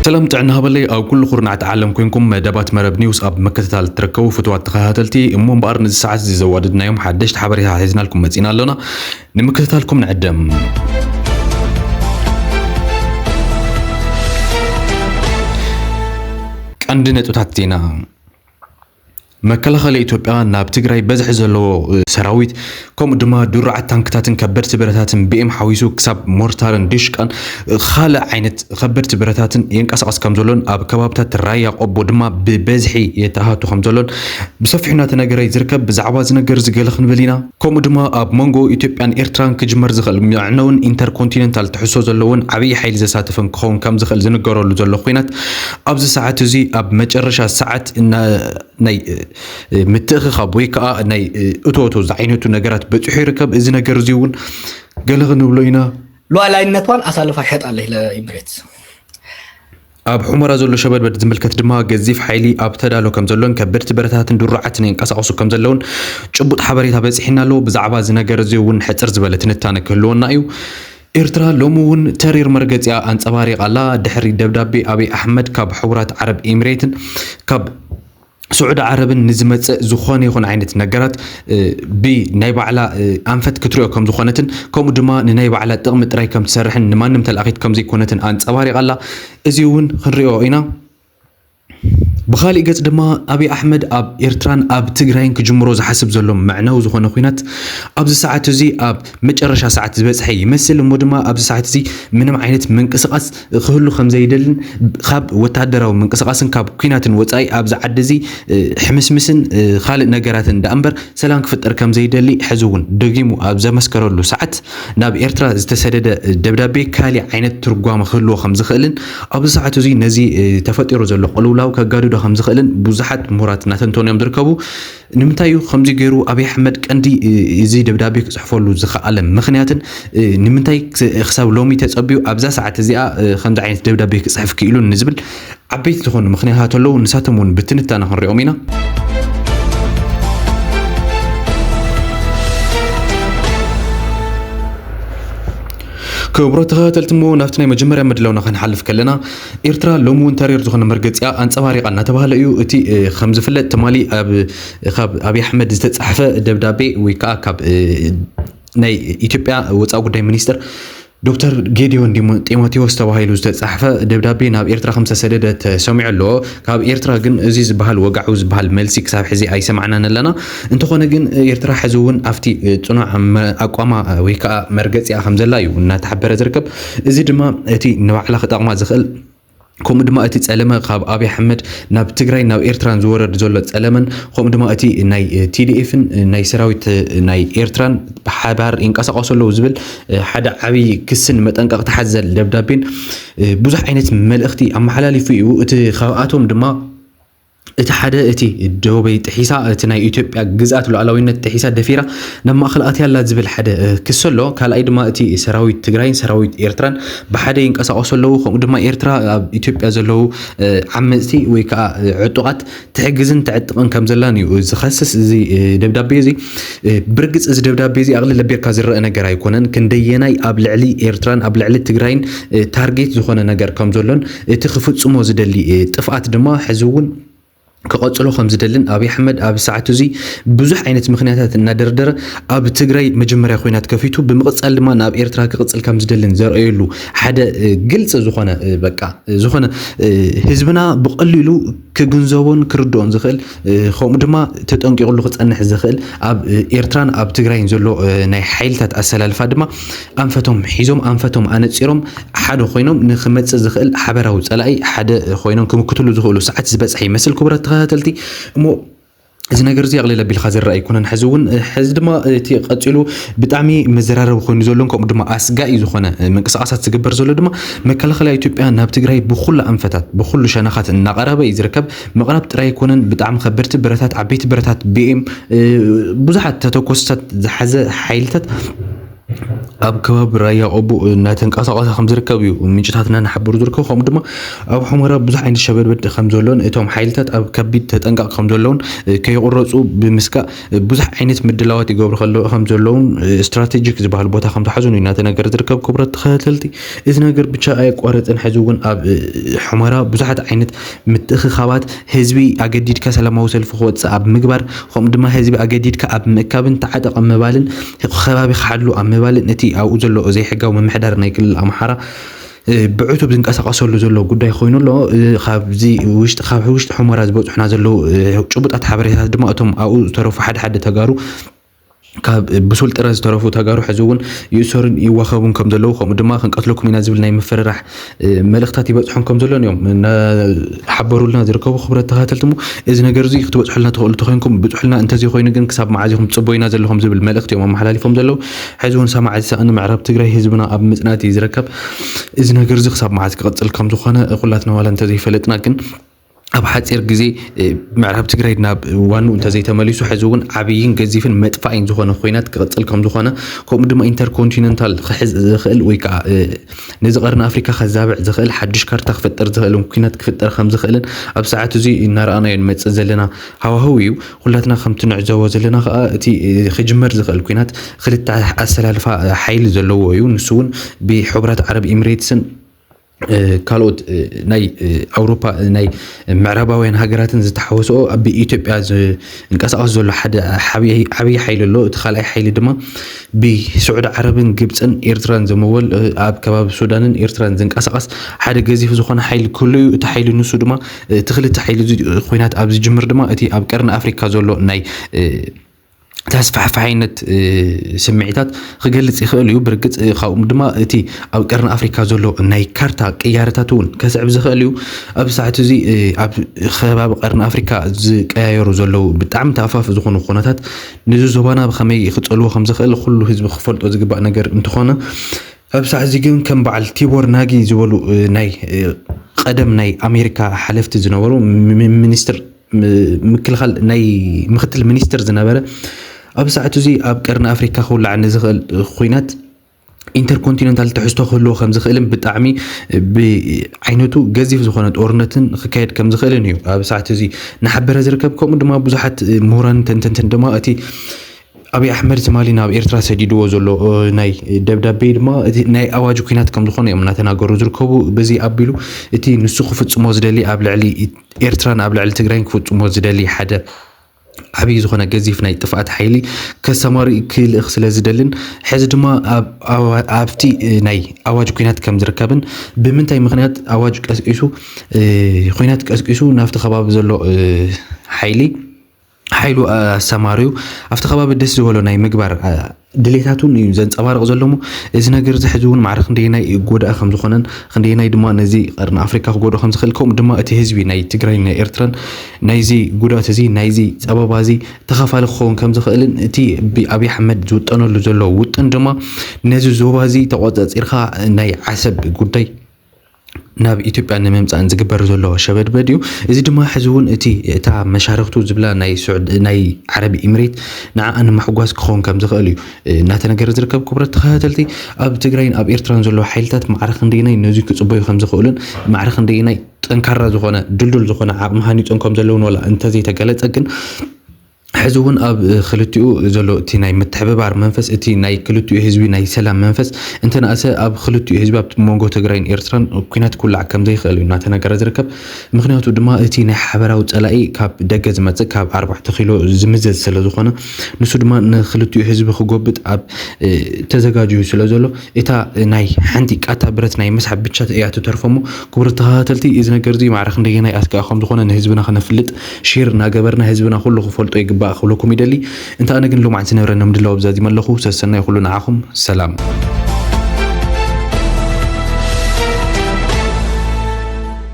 ሰላም ጥዕና ሃበለይ ኣብ ኩሉ ኩርናዕቲ ዓለም ኮንኩም መደባት መረብ ኒውስ ኣብ ምክትታል እትርከቡ ፍትዋት ተኸታተልቲ እሞ እምበኣር ነዚ ሰዓት እዚ ዘዋደድናዮም ሓደሽቲ ሓበሬታ ሒዝናልኩም መፂና ኣሎና ንምክትታልኩም ንዕደም ቀንዲ ነጥብታት ዜና መከላኸሊ ኢትዮጵያ ናብ ትግራይ በዝሒ ዘለዎ ሰራዊት ከምኡ ድማ ድሩዓት ታንክታትን ከበድቲ ብረታትን ብኤም ሓዊሱ ክሳብ ሞርታርን ዲሽቃን ካልእ ዓይነት ከበድቲ ብረታትን የንቀሳቐስ ከም ዘሎን ኣብ ከባብታት ራያ ቆቦ ድማ ብበዝሒ የተኣታቱ ከም ዘሎን ብሰፊሑ እናተነገረ ዝርከብ ብዛዕባ እዚ ነገር እዚ ገለ ክንብል ኢና። ከምኡ ድማ ኣብ መንጎ ኢትዮጵያን ኤርትራን ክጅመር ዝኽእል መዕነውን ኢንተርኮንቲነንታል ትሕዝቶ ዘለዎን ዓብዪ ሓይሊ ዘሳትፍን ክኸውን ከምዝኽእል ዝንገረሉ ዘሎ ኹናት ኣብዚ ሰዓት እዙይ ኣብ መጨረሻ ሰዓት ናይ ምትእኽኻብ ወይ ከዓ ናይ እቶ እቶ ዝዓይነቱ ነገራት በፂሑ ይርከብ። እዚ ነገር እዙይ እውን ገለ ክንብሎ ኢና። ሉዓላዊነቷን ኣሳልፋ ሸጣለች ለኢምሬትስ። ኣብ ሑመራ ዘሎ ሸበድበድ ዝምልከት ድማ ገዚፍ ሓይሊ ኣብ ተዳሎ ከም ዘሎን ከበድቲ ብረታትን ድሩዓትን የንቀሳቕሱ ከም ዘለውን ጭቡጥ ሓበሬታ በጺሒና ኣሎ። ብዛዕባ እዚ ነገር እዚ እውን ሕጽር ዝበለ ትንታነ ክህልወና እዩ። ኤርትራ ሎሚ እውን ተሪር መርገጺኣ ኣንጸባሪቓ ኣላ። ድሕሪ ደብዳቤ ኣቢይ ኣሕመድ ካብ ሕቡራት ዓረብ ኤሚሬትን ካብ ስዑዲ ዓረብን ንዝመጽእ ዝኾነ ይኹን ዓይነት ነገራት ብናይ ባዕላ ኣንፈት ክትሪኦ ከም ዝኾነትን ከምኡ ድማ ንናይ ባዕላ ጥቕሚ ጥራይ ከም ትሰርሕን ንማንም ተላኣኺት ከም ዘይኮነትን ኣንጸባሪቓ ኣላ። እዚ እውን ክንሪኦ ኢና። ብኻሊእ ገጽ ድማ ኣብይ ኣሕመድ ኣብ ኤርትራን ኣብ ትግራይን ክጅምሮ ዝሓስብ ዘሎ መዕነዊ ዝኾነ ኩናት ኣብዚ ሰዓት እዚ ኣብ መጨረሻ ሰዓት ዝበጽሐ ይመስል እሞ ድማ ኣብዚ ሰዓት እዚ ምንም ዓይነት ምንቅስቓስ ክህሉ ከም ዘይደልን ካብ ወተሃደራዊ ምንቅስቓስን ካብ ኲናትን ወጻኢ ኣብዚ ዓዲ እዚ ሕምስምስን ካልእ ነገራትን ደኣ እምበር ሰላም ክፍጠር ከም ዘይደሊ ሕዚ እውን ደጊሙ ኣብ ዘመስከረሉ ሰዓት ናብ ኤርትራ ዝተሰደደ ደብዳቤ ካልእ ዓይነት ትርጓመ ክህልዎ ከም ዝኽእልን ኣብዚ ሰዓት እዚ ነዚ ተፈጢሩ ዘሎ ቅልውላው ከጋድዶ ከም ዝኽእልን ብዙሓት ምሁራት እናተንተኑ እዮም ዝርከቡ። ንምንታይ እዩ ከምዚ ገይሩ ኣብይ ኣሕመድ ቀንዲ እዚ ደብዳቤ ክጽሕፈሉ ዝኸኣለ ምኽንያትን ንምንታይ ክሳብ ሎሚ ተጸብዩ ኣብዛ ሰዓት እዚኣ ከምዚ ዓይነት ደብዳቤ ክጽሕፍ ክኢሉን ንዝብል ዓበይቲ ዝኾኑ ምኽንያታት ኣለዉ ንሳቶም እውን ብትንታነ ክንሪኦም ኢና ክቡራት ተኸታተልቲ እሞ ናብቲ ናይ መጀመርያ ምድላውና ክንሓልፍ ከለና ኤርትራ ሎሚ እውን ተሪር ዝኾነ መርገጺኣ ኣንጸባሪቓ እናተባህለ እዩ። እቲ ከም ዝፍለጥ ትማሊ ካብ ኣብይ ኣሕመድ ዝተጻሕፈ ደብዳቤ ወይ ከዓ ካብ ናይ ኢትዮጵያ ወፃኢ ጉዳይ ሚኒስትር ዶክተር ጌዲዮን ጢሞቴዎስ ተባሂሉ ዝተጻሕፈ ደብዳቤ ናብ ኤርትራ ከም ዝተሰደደ ተሰሚዑ ኣሎ ካብ ኤርትራ ግን እዚ ዝበሃል ወጋዑ ዝበሃል መልሲ ክሳብ ሕዚ ኣይሰማዕናን ኣለና እንተኾነ ግን ኤርትራ ሕዚ እውን ኣብቲ ጽኑዕ ኣቋማ ወይ ከዓ መርገጺኣ ከም ዘላ እዩ እናተሓበረ ዝርከብ እዚ ድማ እቲ ንባዕላ ክጠቕማ ዝኽእል ከምኡ ድማ እቲ ጸለመ ካብ ኣብይ ኣሕመድ ናብ ትግራይ ናብ ኤርትራን ዝወረድ ዘሎ ጸለመን ከምኡ ድማ እቲ ናይ ቲዲኤፍን ናይ ሰራዊት ናይ ኤርትራን ብሓባር ይንቀሳቐሱ ኣለዉ ዝብል ሓደ ዓብዪ ክስን መጠንቀቕታ ሓዘል ደብዳቤን ብዙሕ ዓይነት መልእኽቲ ኣመሓላሊፉ እዩ እቲ ካብኣቶም ድማ እቲ ሓደ እቲ ዶበይ ጥሒሳ እቲ ናይ ኢትዮጵያ ግዝኣት ሉዓላዊነት ጥሒሳ ደፊራ ናብ ማእኸል ኣትያ ኣላ ዝብል ሓደ ክሲ ኣሎ። ካልኣይ ድማ እቲ ሰራዊት ትግራይን ሰራዊት ኤርትራን ብሓደ ይንቀሳቐሱ ኣለዉ ከምኡ ድማ ኤርትራ ኣብ ኢትዮጵያ ዘለዉ ዓመፅቲ ወይ ከዓ ዕጡቓት ትሕግዝን ተዕጥቕን ከም ዘላን እዩ ዝኸስስ እዚ ደብዳቤ እዚ። ብርግፅ እዚ ደብዳቤ እዚ ኣቕልል ኣቢርካ ዝረአ ነገር ኣይኮነን። ክንደየናይ ኣብ ልዕሊ ኤርትራን ኣብ ልዕሊ ትግራይን ታርጌት ዝኾነ ነገር ከም ዘሎን እቲ ክፍጽሞ ዝደሊ ጥፍኣት ድማ ሕዚ'ውን ክቐጽሎ ከምዝደልን ኣብይ ኣሕመድ ኣብዚ ሰዓት እዚ ብዙሕ ዓይነት ምኽንያታት እናደርደረ ኣብ ትግራይ መጀመርያ ኹናት ከፊቱ ብምቕጻል ድማ ናብ ኤርትራ ክቕጽል ከምዝደልን ዘርእየሉ ሓደ ግልጺ ዝኾነ በቃ ዝኾነ ህዝብና ብቐሊሉ ክግንዘቦን ክርድኦን ዝኽእል ከምኡ ድማ ተጠንቂቕሉ ክጸንሕ ዝኽእል ኣብ ኤርትራን ኣብ ትግራይን ዘሎ ናይ ሓይልታት ኣሰላልፋ ድማ ኣንፈቶም ሒዞም ኣንፈቶም ኣነጺሮም ሓደ ኮይኖም ንክመጽእ ዝኽእል ሓበራዊ ጸላኢ ሓደ ኮይኖም ክምክትሉ ዝኽእሉ ሰዓት ዝበጽሐ ይመስል ክቡራት ተኸታተልቲ እሞ እዚ ነገር እዚ ኣቕሊል ኣቢልካ ዝረኣ ኣይኮነን ሕዚ እውን ሕዚ ድማ እቲ ቀፂሉ ብጣዕሚ መዘራረቢ ኮይኑ ዘሎን ከምኡ ድማ ኣስጋኢ ዝኾነ ምንቅስቃሳት ዝግበር ዘሎ ድማ መከላኸልያ ኢትዮጵያ ናብ ትግራይ ብኩሉ ኣንፈታት ብኩሉ ሸነኻት እናቐረበ እዩ ዝርከብ መቕረብ ጥራይ ኣይኮነን፣ ብጣዕሚ ከበድቲ ብረታት፣ ዓበይቲ ብረታት፣ ቢኤም፣ ብዙሓት ተተኮስታት ዝሓዘ ሓይልታት ኣብ ከባቢ ራያ ቆቦ እናተንቀሳቐሰ ከም ዝርከብ እዩ ምንጭታትና እናሓበሩ ዝርከቡ ከምኡ ድማ ኣብ ሑመራ ብዙሕ ዓይነት ሸበድበድ ከም ዘሎን እቶም ሓይልታት ኣብ ከቢድ ተጠንቀቕ ከም ዘለውን ከይቑረፁ ብምስጋእ ብዙሕ ዓይነት ምድላዋት ይገብሩ ከለዉ ከም ዘለዉን ስትራቴጂክ ዝበሃል ቦታ ከም ዝሓዙን እዩ እናተነገረ ዝርከብ ክቡራት ተኸታተልቲ እዚ ነገር ብቻ ኣየቋረፅን ሕዚ እውን ኣብ ሑመራ ብዙሓት ዓይነት ምትእኽኻባት ህዝቢ ኣገዲድካ ሰላማዊ ሰልፊ ክወፅእ ኣብ ምግባር ከምኡ ድማ ህዝቢ ኣገዲድካ ኣብ ምእካብን ተዓጠቕ ኣብ ምባልን ከባቢ ክሓሉ ኣብ ምባልን እቲ ኣብኡ ዘሎ ዘይሕጋዊ ምምሕዳር ናይ ክልል ኣምሓራ ብዕቱብ ዝንቀሳቐሰሉ ዘሎ ጉዳይ ኮይኑ ኣሎ። ካብዚ ውሽጢ ካብ ውሽጢ ሑመራ ዝበፅሑና ዘለዉ ጭቡጣት ሓበሬታት ድማ እቶም ኣብኡ ዝተረፉ ሓደ ሓደ ተጋሩ ካብ ብሱል ጥረ ዝተረፉ ተጋሩ ሕዚ እውን ይእሰሩን ይዋኸቡን ከም ዘለዉ ከምኡ ድማ ክንቀትለኩም ኢና ዝብል ናይ ምፍርራሕ መልእኽታት ይበፅሖም ከም ዘሎን እዮም ሓበሩልና ዝርከቡ ክብረት ተኸታተልቲ እሞ እዚ ነገር እዚ ክትበፅሑልና ትኽእሉ ተኮይንኩም ብፅሑልና እንተዘይኮይኑ ግን ክሳብ መዓዝ ኢኹም ትፅበዩና ዘለኹም ዝብል መልእኽቲ እዮም ኣመሓላሊፎም ዘለዉ ሐዚ እውን ሰማዒ ዝሰኣነ ምዕራብ ትግራይ ህዝብና ኣብ ምፅናት እዩ ዝርከብ። እዚ ነገር እዚ ክሳብ መዓዝ ክቕፅል ከም ዝኾነ ኩላትና ዋላ እንተዘይፈለጥና ግን ኣብ ሓፂር ግዜ ምዕራብ ትግራይ ናብ ዋንኡ እንተዘይተመሊሱ ሕዚ እውን ዓብይን ገዚፍን መጥፋእን ዝኾነ ኮይናት ክቕፅል ከም ዝኾነ ከምኡ ድማ ኢንተርኮንቲነንታል ክሕዝ ዝኽእል ወይ ከዓ ነዚ ቀርኒ ኣፍሪካ ከዛብዕ ዝኽእል ሓዱሽ ካርታ ክፍጠር ዝኽእልን ኩናት ክፍጠር ከም ዝኽእልን ኣብ ሰዓት እዚ እናረኣናዮ ንመፅእ ዘለና ሃዋህው እዩ። ኹላትና ከምቲ ንዕዘቦ ዘለና ከኣ እቲ ክጅመር ዝኽእል ኲናት ክልተ ኣሰላልፋ ሓይሊ ዘለዎ እዩ። ንሱ እውን ብሕቡራት ዓረብ ኢሚሬትስን ካልኦት ናይ ኣውሮፓ ናይ ምዕራባውያን ሃገራትን ዝተሓወስኦ ኣብ ኢትዮጵያ ዝንቀሳቐስ ዘሎ ሓደ ዓብዪ ሓይሊ ኣሎ እቲ ካልኣይ ሓይሊ ድማ ብስዑዲ ዓረብን ግብፅን ኤርትራን ዝምወል ኣብ ከባቢ ሱዳንን ኤርትራን ዝንቀሳቐስ ሓደ ገዚፍ ዝኾነ ሓይሊ ክህሉ እዩ እቲ ሓይሊ ንሱ ድማ እቲ ክልተ ሓይሊ እዚ ኹናት ኣብ ዝጅምር ድማ እቲ ኣብ ቀርኒ ኣፍሪካ ዘሎ ናይ ተስፋሕፋሒነት ስምዒታት ክገልጽ ይኽእል እዩ ብርግጽ ካብኡ ድማ እቲ ኣብ ቀርኒ ኣፍሪካ ዘሎ ናይ ካርታ ቅያረታት እውን ከስዕብ ዝኽእል እዩ ኣብ ሰዓት እዚ ኣብ ከባቢ ቀርኒ ኣፍሪካ ዝቀያየሩ ዘለዉ ብጣዕሚ ተኣፋፊ ዝኾኑ ኩነታት ንዚ ዞባና ብከመይ ክፀልዎ ከም ዝኽእል ኩሉ ህዝቢ ክፈልጦ ዝግባእ ነገር እንትኾነ ኣብሳዕ እዚ ግን ከም በዓል ቲቦር ናጊ ዝበሉ ናይ ቐደም ናይ ኣሜሪካ ሓለፍቲ ዝነበሩ ሚኒስትር ምክልኻል ናይ ምክትል ሚኒስትር ዝነበረ ኣብ ሰዓቱ እዚ ኣብ ቀርኒ ኣፍሪካ ክውላዕ ንዝኽእል ኩናት ኢንተርኮንቲነንታል ትሕዝቶ ክህልዎ ከም ዝኽእልን ብጣዕሚ ብዓይነቱ ገዚፍ ዝኾነ ጦርነትን ክካየድ ከም ዝኽእልን እዩ ኣብ ሰዓት እዚ እናሓበረ ዝርከብ ከምኡ ድማ ብዙሓት ምሁራን ተንተንትን ድማ እቲ ኣብይ ኣሕመድ ትማሊ ናብ ኤርትራ ሰዲድዎ ዘሎ ናይ ደብዳቤ ድማ እቲ ናይ ኣዋጅ ኩናት ከም ዝኾነ እዮም እናተናገሩ ዝርከቡ። በዚ ኣቢሉ እቲ ንሱ ክፍጽሞ ዝደሊ ኣብ ልዕሊ ኤርትራን ኣብ ልዕሊ ትግራይን ክፍጽሞ ዝደሊ ሓደ ዓብዪ ዝኾነ ገዚፍ ናይ ጥፍኣት ሓይሊ ከሰማሪ ክልእኽ ስለ ዝደልን ሕዚ ድማ ኣብቲ ናይ ኣዋጅ ኩናት ከም ዝርከብን ብምንታይ ምክንያት ኣዋጅ ቀስቂሱ ኩናት ቀስቂሱ ናብቲ ከባቢ ዘሎ ሓይሊ ሓይሉ ኣሰማርዩ ኣብቲ ከባቢ ደስ ዝበሎ ናይ ምግባር ድሌታት እውን እዩ ዘንፀባርቕ ዘሎ እሞ እዚ ነገር እዚ ሕዚ እውን ማዕረ ክንደየናይ ጎዳኢ ከም ዝኾነን ክንደየናይ ድማ ነዚ ቀርኒ ኣፍሪካ ክጎድኦ ከም ዝኽእል ከምኡ ድማ እቲ ህዝቢ ናይ ትግራይን ናይ ኤርትራን ናይዚ ጉድኣት እዚ ናይዚ ፀበባ እዚ ተኻፋሊ ክኸውን ከም ዝኽእልን እቲ ብኣብዪ ኣሕመድ ዝውጠነሉ ዘሎ ውጥን ድማ ነዚ ዞባ እዚ ተቆፃፂርካ ናይ ዓሰብ ጉዳይ ናብ ኢትዮጵያ ንምምፃእን ዝግበር ዘሎ ሸበድበድ እዩ። እዚ ድማ ሕዚ እውን እቲ እታ መሻርኽቱ ዝብላ ናይ ሱዕድ ናይ ዓረብ ኢምሬት ንዓኣ ንምሕጓስ ክኸውን ከም ዝኽእል እዩ እናተነገረ ዝርከብ። ክቡራት ተኸታተልቲ ኣብ ትግራይን ኣብ ኤርትራን ዘሎ ሓይልታት ማዕረ ክንደየናይ ነዚ ክፅበዩ ከም ዝኽእሉን ማዕረ ክንደየናይ ጠንካራ ዝኾነ ድልዱል ዝኾነ ዓቕሚ ሃኒፆም ከም ዘለውን ዋላ እንተዘይተገለፀ ግን ሕዚ እውን ኣብ ክልቲኡ ዘሎ እቲ ናይ ምትሕብባር መንፈስ እቲ ናይ ክልቲኡ ህዝቢ ናይ ሰላም መንፈስ እንተነኣሰ ኣብ ክልቲኡ ህዝቢ ኣብ መንጎ ትግራይን ኤርትራን ኩናት ክውላዕ ከምዘይኽእል እዩ እናተነገረ ዝርከብ ምክንያቱ ድማ እቲ ናይ ሓበራዊ ፀላኢ ካብ ደገ ዝመፅእ ካብ ኣርባዕተ ኪሎ ዝምዘዝ ስለዝኾነ ንሱ ድማ ንክልቲኡ ህዝቢ ክጎብጥ ኣብ ተዘጋጅዩ ስለዘሎ እታ ናይ ሓንቲ ቃታ ብረት ናይ ምስሓብ ብቻ እያ ትተርፎሞ ክቡር ተኸታተልቲ እዚ ነገር እዚ ማዕረ ክንደየናይ ኣስጋኢ ከምዝኾነ ንህዝብና ክነፍልጥ ሼር እናገበርና ህዝብና ኩሉ ክፈልጦ ይግባእ ክብለኩም ይደሊ እንተ ኣነ ግን ሎማዕንቲ ነብረ ንምድላው ኣብዛዚመ ኣለኹ ሰሰናዩ ኩሉ ንዓኹም ሰላም።